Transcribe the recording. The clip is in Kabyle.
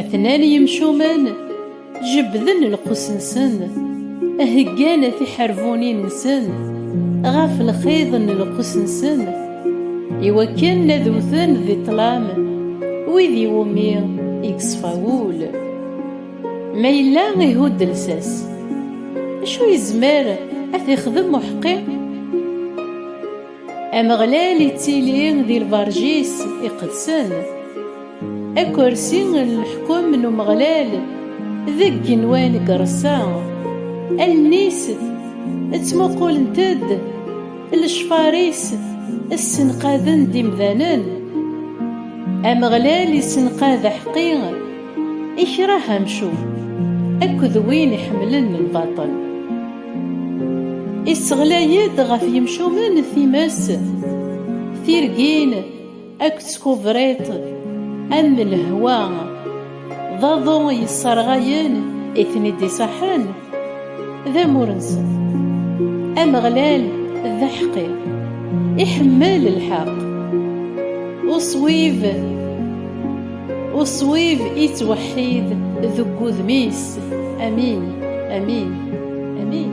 Atnan yimcumen jebbden lqus-nsen, heggan tiḥerbunin-nsen ɣef lxiḍ n lqus-nsen, iwakken ad wten di ṭṭlam wid iwumi i yeṣfa wul. Ma yella ihudd lsas, acu yezmer ad t-ixdem uḥeqqi? Ameɣlal ittili di lberǧ-is iqedsen. Akersi n leḥkem n Umeɣlal deg yigenwan n yireṣṣa. Allen-is ttmuqulent-d, lecfar-is ssenqaden-d imdanen. Ameɣlal issenqad aḥeqqi. Ikreh amcum akked win iḥemmlen lbaṭel. Isseɣlay-d ɣef yimcumen times, tirgin akked tkubriṭ am lehwa, d aḍu yesserɣayen i ten-id-iṣaḥen. d amur-nsen. Ameɣlal d aḥeqqi, iḥemmel lḥeqq. Uṣwib, uṣwib ittweḥḥid deg wudem-is. Amin, amin, amin.